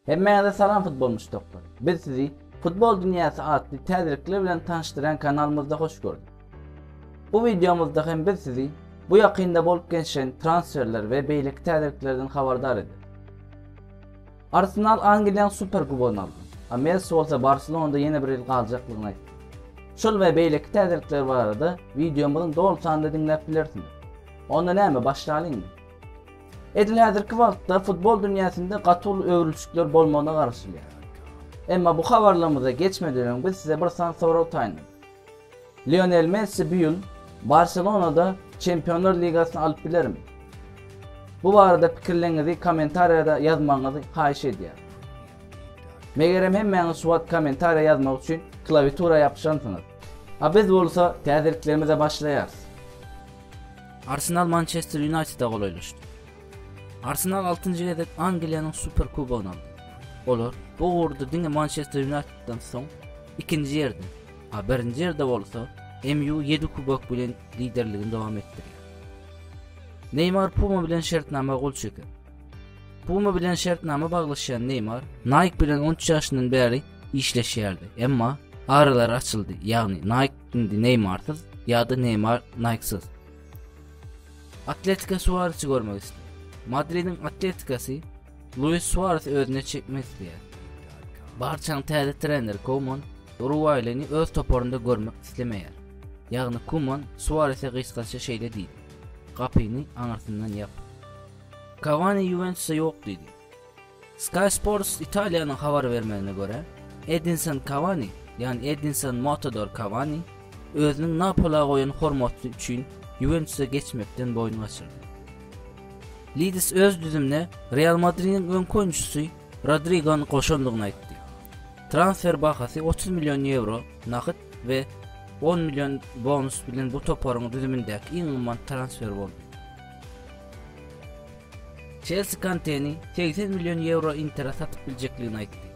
Hemmäňize salam futbol muşdaklary. Biz sizi Futbol dünýäsi atly täzelikler bilen tanyşdyran kanalymyzda hoş gördük. Bu wideomyzda hem biz sizi bu ýakynda bolup geçen transferler we beýleki täzeliklerden habardar ederiz. Arsenal Angliýanyň Superkubogyny aldy, a Messi bolsa Barselonada ýene bir ýyl galjakdygyny aýtdy. Şol we beýleki täzelikler barada wideomyzyň doly sanyny diňläp bilersiňiz. Onda näme, başlalyňmy? Edil häzirki wagtda futbol dünýäsinde gaty uly öwrülişikler bolmagyna garaşylýar. Emma bu habarlarymyza geçmeden öň biz size bir sany sorag taýynladyk. Lionel Messi bu ýyl Barselonada Çempionlar ligasyny alyp bilermi? Bu barada pikirleriňizi kommentariýada ýazmagyňyzy haýyş edýärin. Megerem hemmäňiz şu wagt kommentariýa ýazmak üçin klawiatura ýapyşansyňyz. A biz bolsa täzeliklerimize başlaýarys. Arsenal Mançester Ýunaýteda golaýlaşdy. Arsenal altynjy gezek Angliýanyň Superkubogyny aldy. Olar bu ugurda diňe Mançester Ýunaýtedden soň ikinji ýerde, a birinji ýerde bolsa MU ýedi kubok bilen liderligini dowam etdirýär. Neýmar Puma bilen şertnama gol çeker. Puma bilen şertnama baglaşýan Neýmar Nike bilen 13 ýaşyndan bäri işleşýärdi, emma aralar açyldy, ýagny Nike indi Neýmarsyz ýa-da Neýmar Nikesyz. Atletika Suaresi görmek isleýär. Madridiň Atletikasy Luis Suarez özüne çekmek isleýär. Barçanyň täze treneri Koman uruguaýlyny öz toparynda görmek islemeýär. Ýagny Koman Suareze gysgaça şeýle diýdi. Gapyny aňyrsyndan ýap. Kawani Ýuwentusa ýok diýdi. Sky Sports Italiýanyň habar bermegine görä, Edinson Kawani, ýagny Edinson Motodor Kawani özüniň Napola goýan hormaty üçin Ýuwentusa geçmekden boýun gaçyrdy. Lidis öz düzümine Real Madridiň öňki oýunçysy Rodrigony goşandygyny aýtdy. Transfer bahasy otuz million ýewro nagt we on million bonus bilen bu toparyň düzümindäki iň gymmat transfer boldy. Çelsi Kanteni segsen million ýewro Intere satyp biljekdigini aýtdy.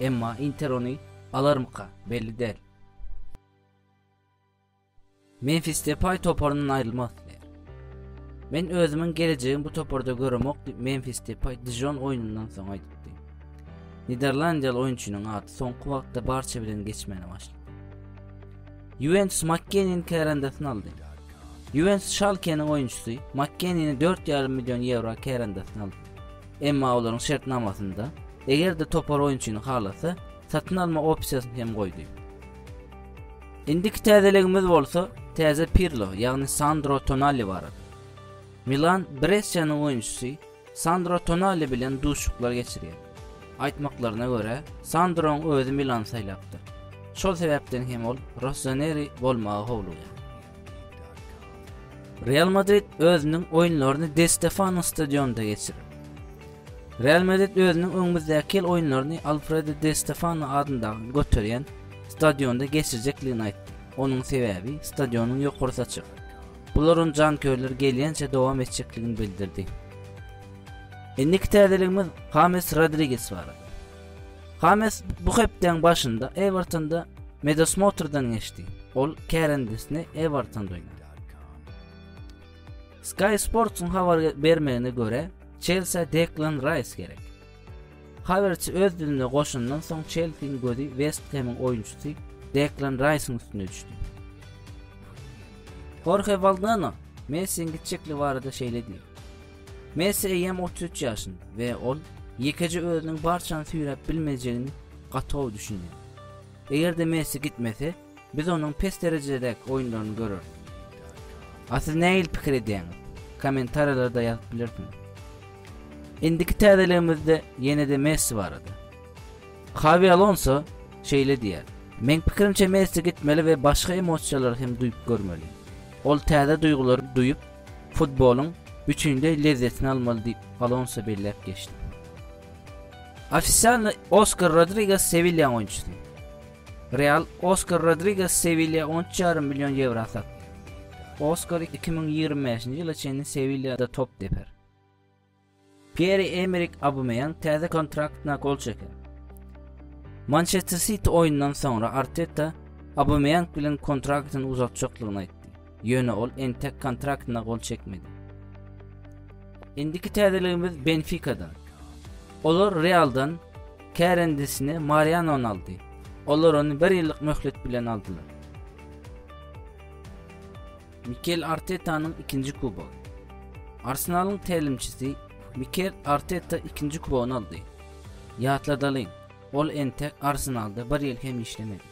Emma Inter ony alarmyka, belli däl. Memfis Depay toparyndan aýrylmak isleýär. Men özümiň gelejegimi bu toparda göremok diýip Memfis Depay Dijon oýnundan soň aýdypdy. Niderlandiýaly oýunçynyň ady soňky wagtda Barça bilen geçmäne başlady. Ýuwentus Makkeniniň kärendesyny aldy. Ýuwentus Şalkeniň oýunçysy Makkenini 4,5 million ýewro kärendesyna aldy. Emma olaryň şertnamasynda, eger-de topar oýunçyny halasa, satyn alma opsiýasyny hem goýdy. Indiki täzeligimiz bolsa täze Pirlo, ýagny Sandro Tonali barada. Milan Bressiýanyň oýunçysy Sandro Tonali bilen duşuşyklar geçirýär. Aýtmaklaryna görä, Sandroň özi Milany saýlapdyr. Şol sebäpden hem ol Rossoneri bolmagy howlugýar. Real Madrid özüniň oýunlaryny Di Stefano stadionynda geçirer. Real Madrid özüniň öňümizdäki ýyl oýunlaryny Alfredo Di Stefano adyndaky göterýän stadionda geçirjekdigini aýtdy. Onuň sebäbi stadionyň ýokarsy açyk. Bular ony jankörler gelýänçä dowam etjekdigini bildirdi. Indiki täzeligimiz Hames Rodriges barada. Hames bu hepdäň başynda Ewertonda medosmotrdan geçdi. Ol kärendesini Ewertonda oýnady. Sky Sports-yň habar bermegine görä, Çelsä Deklan Raýs gerek. Habarçy öz dilinde goşandan soň Çelsiniň gözi West Hemiň oýunçysy Deklan Raýsyň üstüne düşdi. Horhe Waldano Messiň gitjekli barada şeýle diýdi. Messi eýýäm 33 ýaşynda we ol ýekeje özüniň barçany süýräp bilmejegini gaty gowy düşünýär. Eger-de Messi gitmese, Biz onuň pes derejedäki oýunlaryny göreris. A siz nähili pikir edýäňiz? Kommentariýalarda ýazyp bilersiňiz. Indiki täzeligimizde ýene-de Messi barada. Xawi Alonso şeýle diýýär, Meň pikirimçe Messi gitmeli we başga emosiýalary hem duýup görmeli. Ol täze duýgulary duýup, futbolyň bütinleý lezzetini almaly diýip, Alonso belläp geçdi. Ofisialny Oskar Rodriges Sewilýaň oýunçysy. Real Oskar Rodriges Sewilýa on üç ýarym million ýewra satdy. Oskar iki müň ýigrimi bäşinji ýyla çenli Sewilýada top deper. Pýer-Emerik Aubameyang täze kontraktyna gol çeker. Mançester Siti oýundan soňra Arteta Aubameyang bilen kontraktyny uzaltjakdygyny aýtdy. ýöne ol entek kontraktyna gol çekmedi. Indiki täzeligimiz Benfikadan. Olar Realdan kärendesini Marianony aldy. Olar ony bir ýyllyk möhlet bilen aldylar. Mikel Artetanyň ikinji kubogy. Arsenalyň tälimçisi Mikel Arteta ikinji kubogyny aldy. Ýatladalyň, Ol entek Arsenalda bir ýyl hem işlemedi.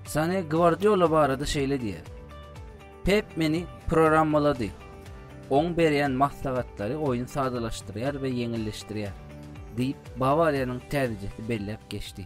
Sane Gvardiola barada şeýle diýýär. Pep meni programmalady. Oň berýän maslahatlary oýny sadalaşdyrýar we ýeňilleşdirýär, diýip, Bawariýanyň täzejesi belläp geçdi.